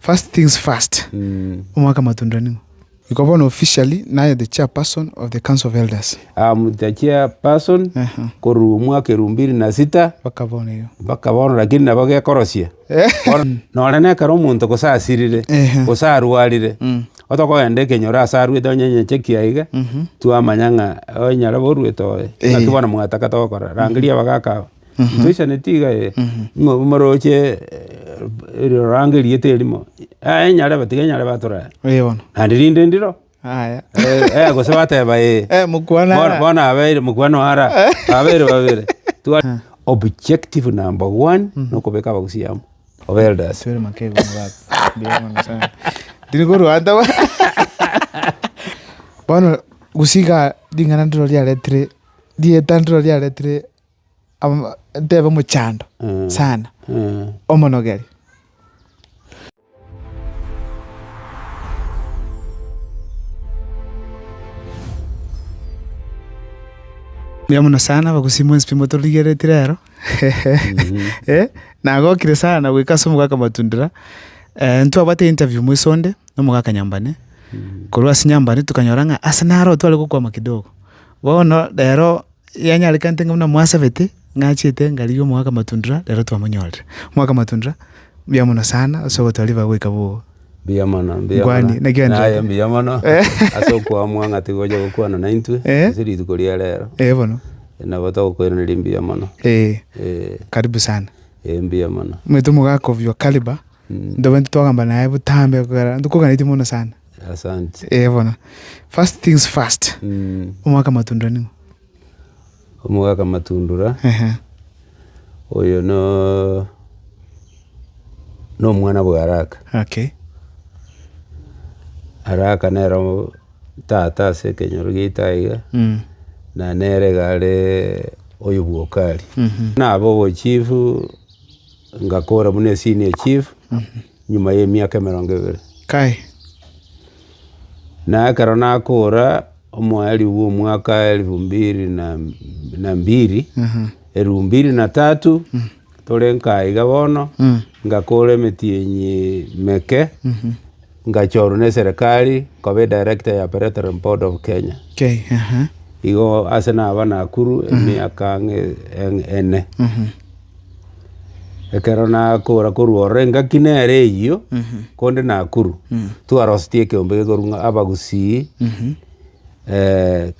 First things first, omwaka amatunda nigo. Iko bono officially naye the chairperson of the council of elders. I am the chairperson korwa omwaka elfu mbili na sita Mpaka bono igo. mpaka bono lakini nabo gekorosia. Bono nore nekero omonto gose asirire, Ehe. gose arwarire, otokogenda ekenyoro ase arwete onye nyecheki aye iga, twamanya ng'a oe nyarebe orwete oye. Naki bono mwataka togokora. Rangeria abagaka aba. Ntoisanetie iga eh, ng'a omoroche eriorango eria terimo, aye nyarebe tiga nyarebe atorore. Ee bono. Naende rinde ndiro, Aya. eh, gose bateba ee. Eh, mokwana Bono, ara. bono abeire mokwana ora abeire babere Twa- objective number one nokobeka abagusi amo obe elders Sibere makego na baba. Mbuya mono sana. Ndiri korwa anta ba. Bono gusika ring'ana ndiro riaretire rieta ndiro riaretire Tebe omochando sana omonogere. Mbuya mono sana abagusii mwensi pi motorigeretie rero nagokire sana goika ase omogaka Matundira ntwabate interview mweso onde na omogaka Nyambane korwa ase Nyambane tokanyora ng'a ase naro tware gokwama kidogo bono rero. yanyarekante ng'a buna mwasabete ng'a achiete ngarigia omogaka matundura rero twamonyorire. Omogaka matundura, mbuya mono sana ase ogotoriba goika bogo. Mbuya mono, mbuya mono. Ngwani, naki onde- Naye mbuya mono ase okoamwa ng'a tiga ocha gokwana naintwe Eh. ase rituko ria rero. Eh, bono. Nabo togokoiraneria mbuya mono. Eh, Eh, karibu sana. eh, mbuya mono. Omanyete omogaka obi o Kariba. Ntobaini titwagamba naye botambe ekero ntokoganetie mono sana. Asante. Eh bono. First things first. Mm. Omwaka matundura nigo. Omwaka matundura. Ehe. Oyo no no mwana bwa araka. Okay. Araka nero tata ase ekenyoro giaito aiga. Mm. Na nere iga are oyo bwa okari. Mm -hmm. Nabo obochifu. Ngakora buna esenior chief nyuma y'emiaka emerongo ebere. Kai. Na ekero nakora omweri bw'omwaka elfu mbiri na, na mbiri, elfu mbiri na tatu, tore nka iga bono, ngakora emetienyi meke, Ngachorwa neserekari nkoba edirector ya Peretorium Board of Kenya. Igo ase naba Nakuru emiaka ng'a ene. Ekero nakora korwa ororo engaki nere eyio konde Nakuru twarosetie ekeombe gekorwa ng'a Abagusii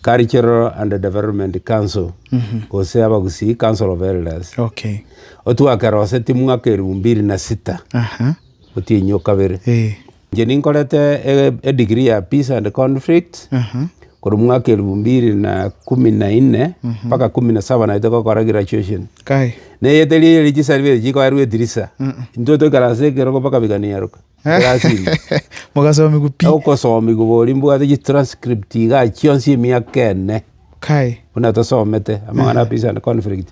Cultural and Development Council gose Abagusii Council of Elders. Otwakerosetie mwaka eribu mbiri na sita. Otienyi o kabere. Inche ninkorete e degree ya peace and conflict korwa mwaka elfu mbili na kumi na inne mpaka kumi na saba naete gokora graduation. Neyete riria riria chisarifeti chikoerwa etirisa, intwe toikare ase ekerogo mpaka biganiaruka ekerasini. Mogasomigwa pi. Ogosomigwa boria mbwate chi transcript iga chionsi emiaka ene buna tosomete amang'ana a peace and conflict.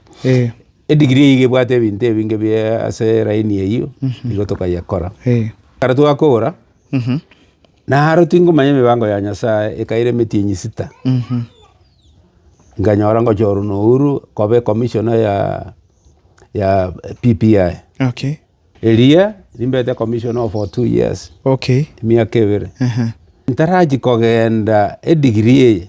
Edigiri eyio iga ebwate ebinto ebinge bi ase line eyio nigo tokayekora. Ekero twakogora naro tingomanya emebango ya Nyasae ekaira emetienyi sita. Nkanyora ngochorwa na Uhuru koba ecomisioner ya ya PPI. Eria nimbete ecomisioner for two years emiaka ebere. Ntarachi kogenda edigiri eye.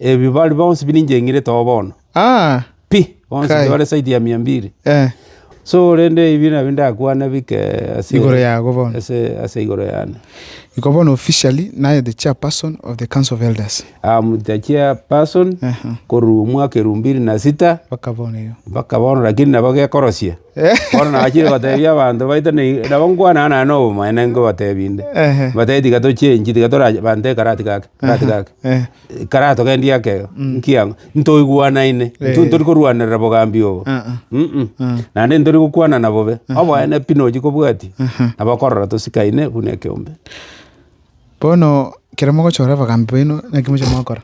Ebi bari bonsi birincheng'irete oo bono, pi, bonsi Kai. bare zaidi ya mia mbili. Eh, So rende ebi nabio ndakwane bike ase Igoro yago bono. ase ase igoro yane. Iko bono officially naye the chairperson of the council of elders. Am the chairperson Aha. korwa omwaka elfu mbili na sita Mpaka bono igo. mpaka bono lakini nabo gekorosia. Eh. Bono nachire gotebia abanto baito nei- nabo nkwanana naye na obomaene nkobatebie inde. Ehe. Mbatebie tiga tochenchi tiga tora bante karati gake. gati gake, Eh. ekara togendie akeo, Mm. nkiang'o? Ntoigwanaine, Eh. intwe ntori korwanerera bogambi obo. Ah, ah. Mm-mm. Ah. Naende ntori gokwanana bobe, oboene pi nochi kobwatia, Aha. nabo okorora tosikaine buna ekeombe. Bono, ekero mogochora abagambi baino, naki moche mogokora?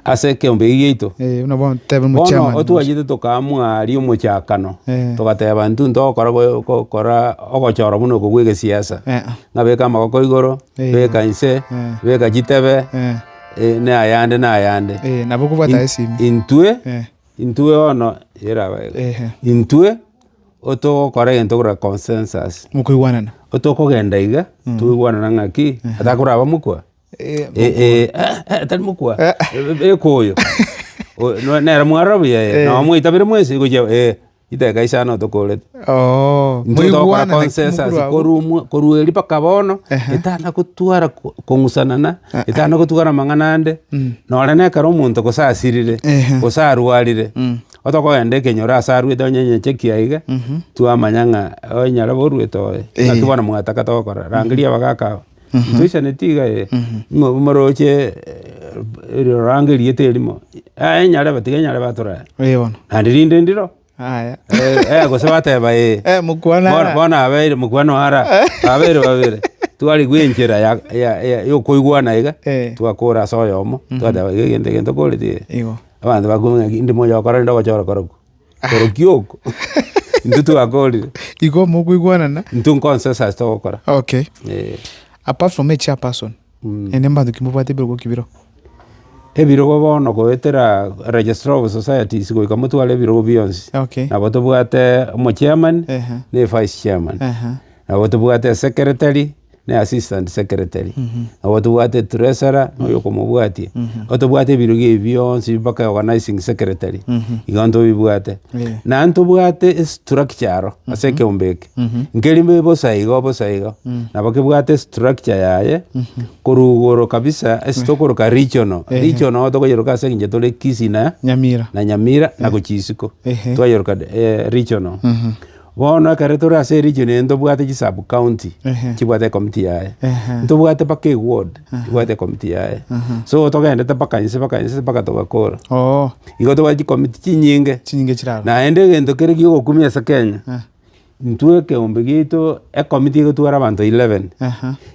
ase ekeombe eki giaito. Eh, buna bono tebe Bono muchairman. otwachete tokamua riomochakano Eh. togateba ntwe ntogokora go- gokora ogochora buna oko bwa egesiasa Eh, ah. ng'a beka amagoko igoro Eh. beka inse Eh. beka chitebe Eh, eh, na ayande na ayande eh, nabo kobwata In- esimi. intwe Eh, intwe bono eraba iga. eh, eh. intwe otogokora egento kora consensus Mokoigwanana. otokogenda iga toigwanana ng'aki atakoraba mokwa tari mokwa ekoyo nere mwarora buya ee nabo mwaitabire mwensi gochia ee riteka isano tokorete intwe togokora consensus korumwa korwa erio mpaka bono etana gotwara kong'usana na etana gotwara amang'ana ande nonye na ekero omonto gose asirire gose arwarire otokogenda ekenyoro ase arwete onye nyecheki aye iga twamanya ng'a oye nyarebe orwete oye naki bono mwataka togokora rangeria abagaka aba Ntoisaneti iga eh, mwa- mwaroche eh, eri oranga erieta erimo, eh, enyare batiga enyare batorere. Eh, bono. Naende rinde ndiro, Aya. eh, eh, gose bateba eh. Eh, mokwana Bono- ara. bono abeire mokwano ara abeire babere twarigwa enchera ya- ya- ya- yokoigwana iga Eh. twakora ase oyomo twateba iga egento egento okoreti eh. Igo. Abanto bakumenya ki ndimo oyokora rende ogochora kora kwo. Orokia oko. Intwe twakorire. Igo mokoigwanana. Intwe nkonsa ase ase togokora. Okay. Eh. Apart from a chairperson. Mm. Ende mbantu kimobwate ebirogo kibiro. Ebirogo bono goetera registrar of societies goika motware ebirogo bionsi. Okay. Nabo tobwate omochairman. Uh -huh. Ne vice chairman. Uh -huh. Nabo tobwate secretary. ne assistant secretary, nabo tobwate treasurer na oyo okomobwatia, igo tobwate ebirugi ebi bionsi mpaka organising secretary, igo ntobibwate. Eh. Naende tobwate estructure aro ase ekeombe eke, nkeri mbe bosa igo bosa igo, nabo kebwate estructure yaye, korwa igoro kabisa ase tokoroka regional, Ehe. regional igo tokoyeroka ase eng'encho tore Kisii na Nyamira. na Nyamira na gochia isiko, Ehe. twayeroka eh regional. Bono ekero tore ase region eye ntobwate chisub county chibwate ecommittee yaye. Ntobwate mpaka eward ebwate ecommittee yaye. So togendete mpaka inse mpaka inse mpaka togakora. Igo tobwate chicommittee chinyinge. Naende egento kere giogokumia ase Kenya, intwe ekeombe giaito ecommittee egotwara abanto eleven.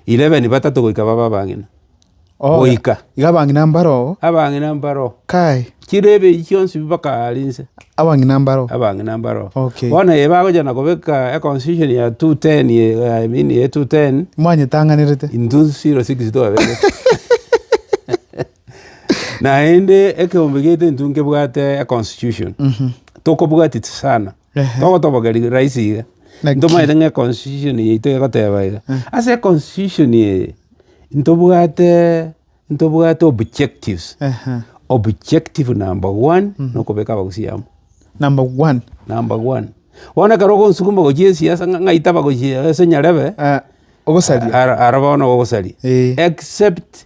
Eleven batato goika babe abang'ina. goika. Iga abang'ina mbaroo. Abang'ina mbaroo. Kai. Chire ebeyi chionsi bakaara inse. Abang'ina mbaroo. Abang'ina mbaroo. Okay. Bono eye bagocha na kobeka a constitution ya 210 ye, I mean ye 210. Mwanyetang'anerete. Intwe 06 twaberete. Naende ekeombe gete intwe nkebwate a constitution. Tokobwatiti sana. Togotobogeri rahisi iga, ntomanyete ng'a econstitution yaito egoteba iga, ase econstitution eye, ntobwate ntobwate objectives, objective number one, nokobeka abagusii amo. Number one. Number one. Bono ekero ogosukuma gochia esiasa ng'a ng'ai tabagochia ase nyarebe, ogosaria. ara ara bono ogosaria. Eeh. Except.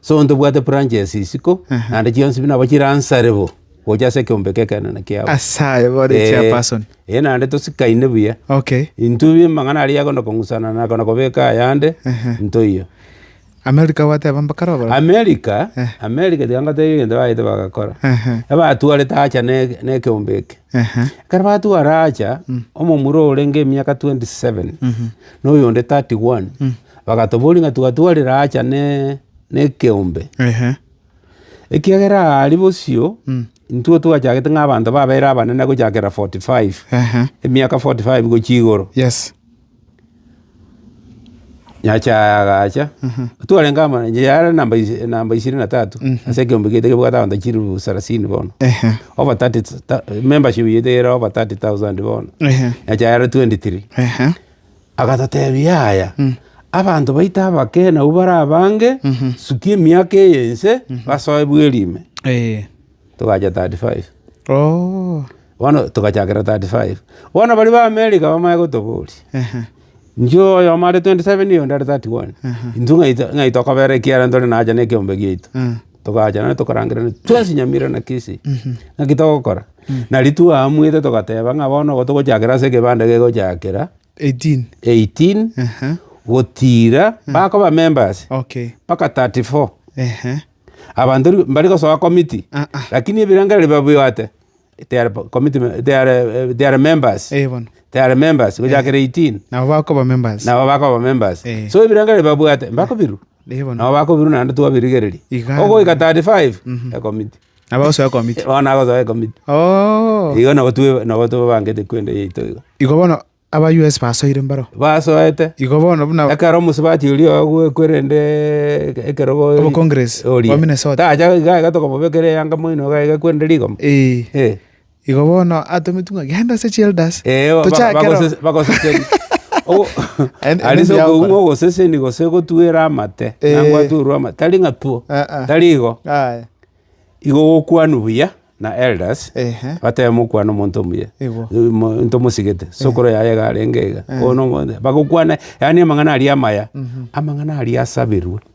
So ntobwate branches isiko, naende chionsi pi nabo chiransare bo, gocha ase ekeombe ki'ekeene kiabo. Ase aye bore Eh, chairperson. eh, naende tosikaine buya. Okay. Intwe bi amang'ana aria yakonda kong'usana na akona kobeka ayande, ntoiyo. America gwateba mbakare obora. America, America tiga ngoteba egento baete bagakora. Ehe. Ebatwarete acha ne- ne ekeombe eke. Ehe. Ekero batwara acha, omomura orenge emiaka 27, na oyonde 31, Bagatoboria ng'a tigatwarire aacha nekeombe, ekiagera aari bosio intwe twachagete ng'a abanto babeire abanene gochakera forty five, emiaka forty five gochia igoro. Nyasae agacha, twarenge amo, yare namba ishirini na tatu ase ekeombe kiaito kebwate abanto chilifu sarasini bono, over thirty, membership yaito ere over thirty thousand bono, Nyasae are twenty three. Agatotebia, Yaya, abanto baito abake nabwo bare abange, sukia emiaka eye ense, basoe bweri ime. Togacha 35. Bono togachakera 35. Bono baria ba America bamanye gotoboria, intwe oyomo are 27 oyonde are 31, intwe ng'ai tokobera ekiara ntore nacha nekeombe giaito? Togacha nere tokarangerania twensi Nyamira na Kisii, naki togokora? Nari twaamwete togateba ng'a bono obo togochakera ase ekebanda gegochakera 18. 18 Aha. gotiira bakoba members Okay. mpaka 34 Ehe. abanto ri- mbari gosoa committee Ah, ah. lakini ebirengereri babibwate they are committee me- they are, eh, they are members Eh, bono. they are members gochakera 18 Nabo bakoba members. nabo bakoba members Eh. so ebirengereri babwate mbakobiru Eh, bono. nabo bakobiru naende twabirigereria Iga. ogoika 35 ekomiti Nabo agosoa ekomiti. Bono nagosoa ekomiti. Oo. Igo nabo twe- nabo tobangete kwenda yaito iga. Igo bono aba US basoire mbaro. Basoete, Igo bono buna ekero omosubati oria oye ogwekwa erendeeee eke- ekerogo Obo Congress, oria. owa Minnesota. Tacha iga iga tokomobekera eyanga moino iga iga ekwende rigoma. Eeh. Eh. Igo bono atometwe ng'a, Genda ase chielders, tochake roro. Erio bagosesenia. Aria ase okoung'a ogoseseni gose gotwera amate, na gwatwerwa amate, tari ng'a two, tari igo. Igo gokwanwa buya na elders, batebe mokwane omonto omuya, ntomosigete, sokoro yaye iga arenge iga, bagokwane yaani amang'ana aria amaya, amang'ana aria asaberwe.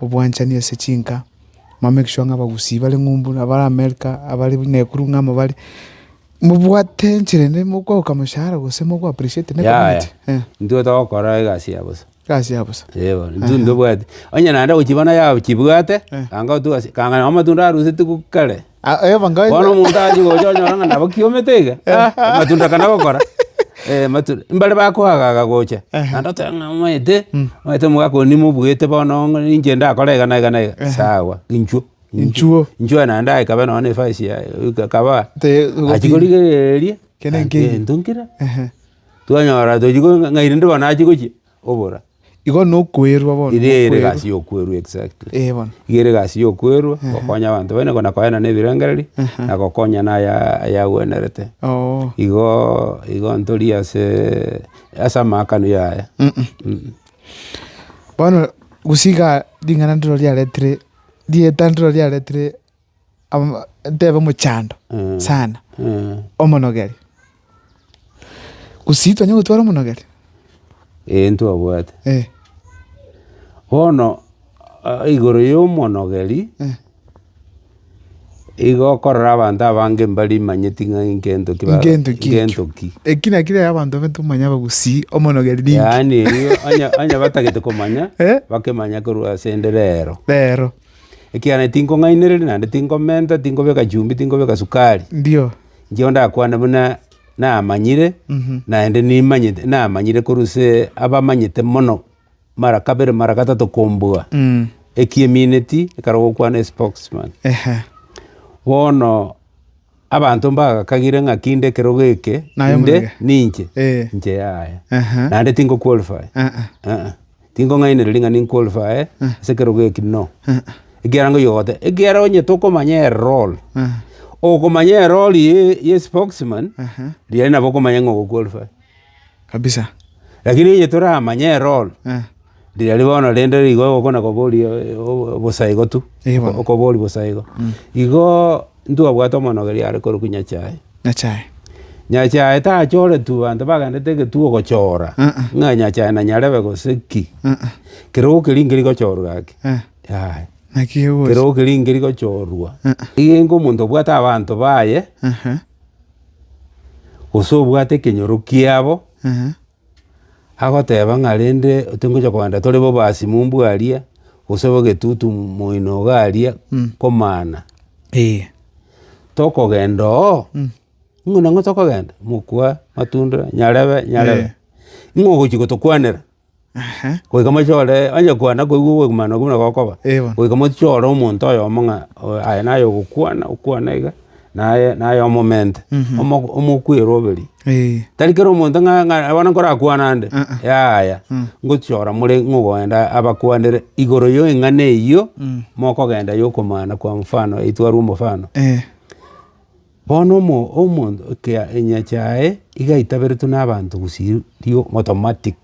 obwanchani ase chinka, mamake sure ng'a abagusii bare ng'umbu na bare America abare buna ekuru ng'amo bare, mobwate enchera ende mokogoka moshahara gose mogo appreciate ne community. Yaya, Eh, intwe togokora egasi ya bosa. egasi ya bosa. Eh bono, intwe mbobwati. Onye naende gochibana yachibwate, Eh. ganga otugasi, ganga noo amatunda aroseti goka kare. Bono omonto aachie gocha onyora ng'a nabo kiomete iga, amatunda akana gokora, amatunda mbare bakoagaga gocha, naende oteba ng'a omanyete, omanyete omogaka oyo nimobuete bono ninche ndakore iga na iga na iga, sawa inchuo, inchuo, inchuo aya naende ekabe nonye na efasi yaye, ekaba achia korigereria, gento nkira, twanyora tochia ng'a rende bono achia gochia, obora. Igo nokwerwa bono. Iga ere egasi ya okwerwa exactly. Ee bono. Iga ere egasi ya okwerwa gokonya abanto baino na koeana na ebirengererio na gokonya na ayagwenerete. Oo. Igo igo ntori ase ase amaakano ya aya. Bono gose iga ring'ana ndiro riaretire rieta ndiro riaretire. tebe omochando sana omonogeri, gose titwanyare gotwara omonogeri? Ee ntobwate. Bono igoro y'omonogeri, igo okorora abanto abange mbari manyeti ng'a nkento ki ba- Nkento ki ekio. nkento ki. Eki naki rero abanto baito komanya abagusii omonogeri ninki? Yaani erio onye onye batagete komanya, bakemanya korwa asende rero. Rero. ekiagera naende tinkong'ainereria, naende tinkomenta, tinkobeka chumbi, tinkobeka sukari. Ndio. Inche ndakwane buna namanyire, naende nimanyete, namanyire korwa ase abamanyete mono, mara kabere, mara gatato kombua, ekio emineti, ekero gokwana espokesman. Bono. Abanto mbagakagire ng'a kinde ekerogo eke Naye inde omorege. ninche, Eh. inche yaye. Aha. Naende tingo qualify. Ah, ah. Ah, tingong'ainereria ng'a ninqualify ase ekerogo eki no. Ekiagera nkoigwa gote, ekiagera onye tokomanya erol, Ah. okomanya erol ye ye spokesman, Aha. riria nabo okomanya ng'a ogoqualify. kabisa. Lakini onye toramanye erooro riaria bono rende rigo ogokwa na kobori bosa igo tu, okobori bosa igo. Igo ntwabwate omonogoria are korokwa Nyachae. Nyachae. Nyachae tachoretu banto bagendete egetuo gochora, ng'a Nyachae na nyarebe gose ki. Kerogo keria nkeri gochorwa gaki, yaya. Naki egose. Kerogo keria nkeri gochorwa. Igo enke omonto obwate abanto baye. gose obwate ekenyoro kiabo, agoteba ng'a rende tingocha kogenda tore bo obasimimu bwaria, gose bo egetutu moino iga aria, komana. Tokogenda oo, buna ng'o tokogenda? Mokwa, matunda, nyarebe, nyarebe. Ng'o ogochi gotokwanera? Goika mochore, onye kwana koigwa ogokumana okwo buna gokoba, goika mochore omonto oyomo ng'a oyo aye naye ogokwana, okwana iga, naye naye omomente, omoko omokwere oberie. Tari kera omonto ng'a ng'a bono nkorakwana nde, yaya, ngochora more ng'a ogoenda abakwanere igoro ya eng'ana eyio mokogenda ya okomana kwa mfano eywo twarwa omofano. Bono omomokia enyache yaye iga aitaberetwe nabanto gosiria automatic.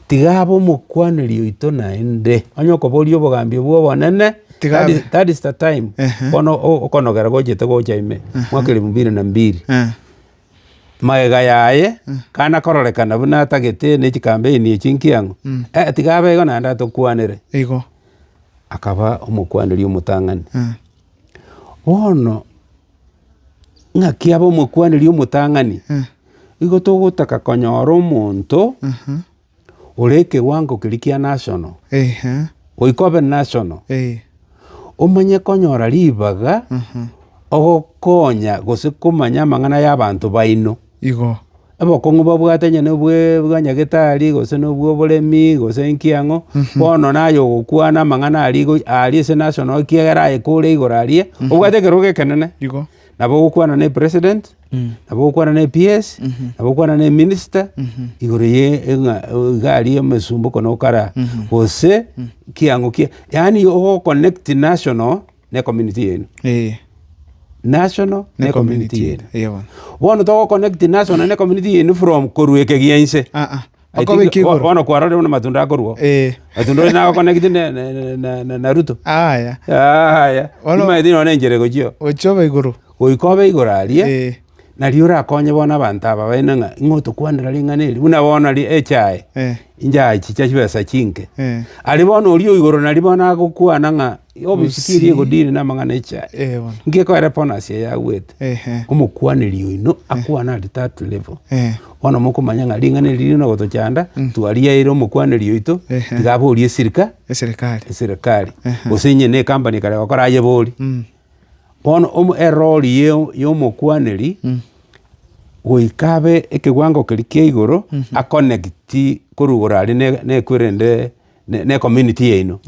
Tiga abe omokwaneri oito naende, onye okoboria obogambi obwo obonene, Tiga abe. that is the time Ehe. bono o- okonogera gochete gocha ime mwaka elfu mbili na mbili. Eh. Magega yaye kana kororekana buna atagete ne chikampeni echi nkiang'o, eh, tiga abe igo naende atokwanere. Igo. Akaba omokwaneri omotang'ani. Eh. Bono ng'aki abe omokwaneri omotang'ani, nigo togotaka konyora omonto ore ekewango keria kia national, goika obe national, omanye konyora ribaga ogokonya gose komanya amang'ana y'abanto baino. igo. Obokong'u babwate onye nobwe bwa nyagetari, gose nobwo oboremi, gose inki ang'o, bono naye ogokwana amang'ana aria igo aria ase nase ono ekiagera aye kore igoro aria, obwate ekerogo ekenene, Igo. nabo ogokwana na epresident, nabo ogokwana na ePS, nabo ogokwana na eminister, igoro ye ng'a iga aria omosumba okonokara, gose kiang'o ki yaani ogoconnect national. n'ecommunity yaino, Ee, national ne n'ecommunity community yaino. yaino. Ee bono. Bono togoconnect national n'ecommunity yaino from korwa ekegia inse. Ah, ah. I Mpaka think obeke bo- igoro. bono kwarorire buna matunda akorwa. Ee. Matunda oyo nagoconnect ne- ne- ne- na- na- na Ruto. Aya. Aya. Bono- Timaeti nonye enchera egochio. Gochia obe igoro. Goika obe igoro aria. Ee. Nari orakonye bono abanto aba baino ng'a ing'o otokwanera ring'ana eri buna bono nari echae, Eh. inchae chicha chibesa chinke. Eh. Aria bono oria o igoro nari bono agokwana ng'a obisiki eria Bosii. egodiri namang'ana echae. Eh, bono. Inki ekoera bono ase eye agwete? Ehe. Omokwaneri oino akwane at that level. Eh. Bono mokomanya ng'a ring'ana eri rire nogotochanda, twariaeire omokwaneri oito, Ehe. tiga aborie esirika, Eserikari. eserekari, Ehe. gose onye ne ekampani ekare gokora ayebori. Mm. Bono eroori y'omokwaneri goika abe ekewango keria kia igoro aconnecti korwa igoro aria na ekwerende na ecommunity yaino.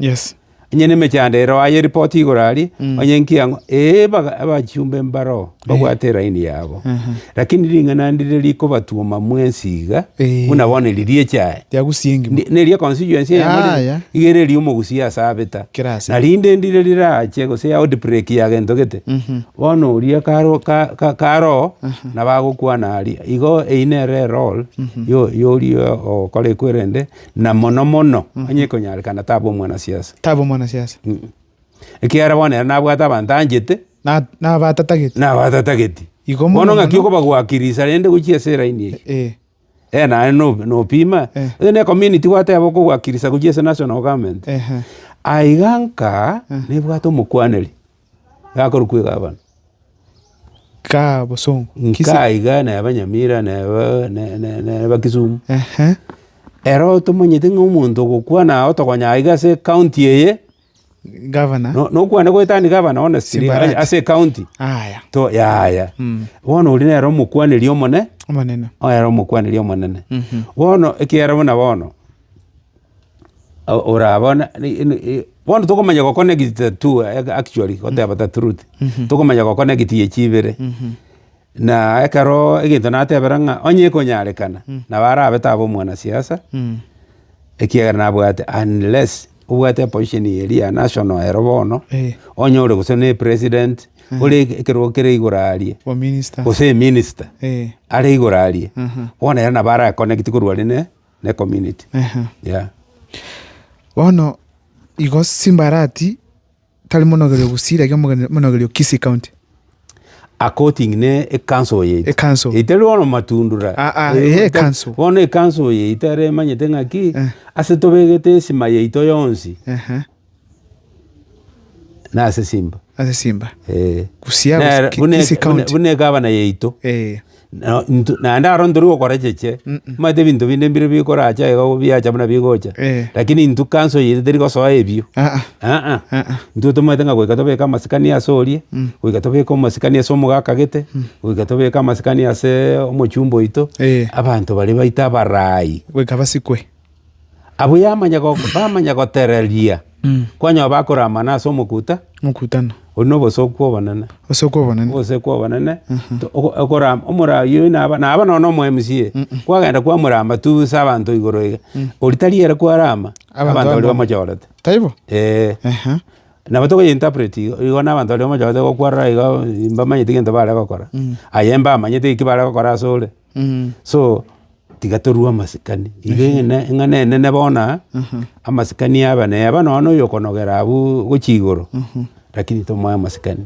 Onye nemechando ero aye report igoro aria onye nki ang'o ee abachumbe mbaroo mbabwate eraini yabo. Lakini ring'ana ndire rikobatuoma mwensi iga buna bono eri riecha aye. Tiagusia engima. Ne ri'ekonsi yonsi eyemo Yaya. igere eria omogusia ase abeta. Kera ase. Na rinde ndire riraache gose ya outbreak ya gento gete, bono oria karo ka- ka- karoo nabagokwana aria. Igo eyio nere erole yo- yoria ogokora ekwerende na mono mono onye ekonyarekana taba omwanasiasa. Taba omwanasiasa. Ekiagera bono ere nabwate abanto anchete Na nabatatagete. na abatatageti. Igo mono Bono ng'aki mono. okobagwakirisa rende gochia ase eraini eyio. Eh. Eeh naye no- nopima, Eh. onye ne community gwateba okogwakirisa gojia ase national government, Ehe. aiga nkaa Eh. nebwate omokwaneri, gakorokwa egavana. Kaa bosongo. Kisi- Nkaa iga neba Nyamira neba ne- ne- neba Kisumu. Ehe. Ero tomanyete ng'a omonto ogokwana otogonya aiga ase county eye, Gavana. No- nokwane goetania gavana one siri Simbarati. ase ekaunti. Aya. To yaya. Mm. Bono oria nere omokwaneri omone, Omonene. ere omokwaneri omonene. Mhm. Bono ekiagera buna bono, o- ora bono ni- i- ni- i- bono tokomanya goconnect two ac- actually goteba the truth. Tokomanya goconnect echi ibere. Na ekero egento natebera ng'a onye ekonyarekana, nabo arabe tabe omwanasiasa, ekiagera nabwate unless obwate eposition ya eria national ero bono, Eh. onye ore gose ne president, ore ekerogo kere igoro aria, Wa minister. gose eminister Eh. are igoro aria, Aha. bono ere nabo ara connect korwa are ne ne community. Aha. Yeah. Bono igo simbarati tari monogerio Gusii, lakini omogeni- monogerio Kisii County. According ne ekanso eye ite. Ekanso. Itari bono matundura. Ah, ah, Eh, eh, ita- ekanso. Bono ekanso eye ite are emanyete ng'aki Eh. ase tobegete esima yaito yonsi Ehe, na ase simba. ase Simba. Eh. Gusii, Nere- Gusii, buna- Kisii buna- County. Buna egabana yaito. Eh, Naende aro ntori gokorecheche, omanyete ebinto binde mbire bikorache iga biacha buna bigocha. Lakini intwe kanso eye teri gosoa ebio, aa, intwe tomanyete ng'a goika tobeke amasikani ase oria, goika tobeke amasikani ase omogaka gete, goika tobeke amasikani ase omochumba oito, abanto baria baito abarai. Goika basikwe. Abwo yamanya go- bamanya gotereria kwanywa bakoramana ase omokuta, Mokutano. oyio na obosoku obonene. Obosoku obonene. Oboseku obonene, to- oko- okoram- omora- oyio naba naba nonya na omo MCA, kwagenda kwamorama tu ase abanto igoro iga, oria tari ere kwarama, Abanto abanto baria bamwe. bamochorete. Taibo? Eeh. Ehe. Nabo tokoye interpret igo, igo na abanto baria bamochorete igo kwarora igo mbamanyeti gento bare gokora, aye mbamanyete eki bare gokora ase ore. So tiga torue amasikani, iga eng'ene eng'ana enene bono aa, amasikani aba neba nonya na oyokonogera abwo gochia igoro, lakini tomoe amasikani.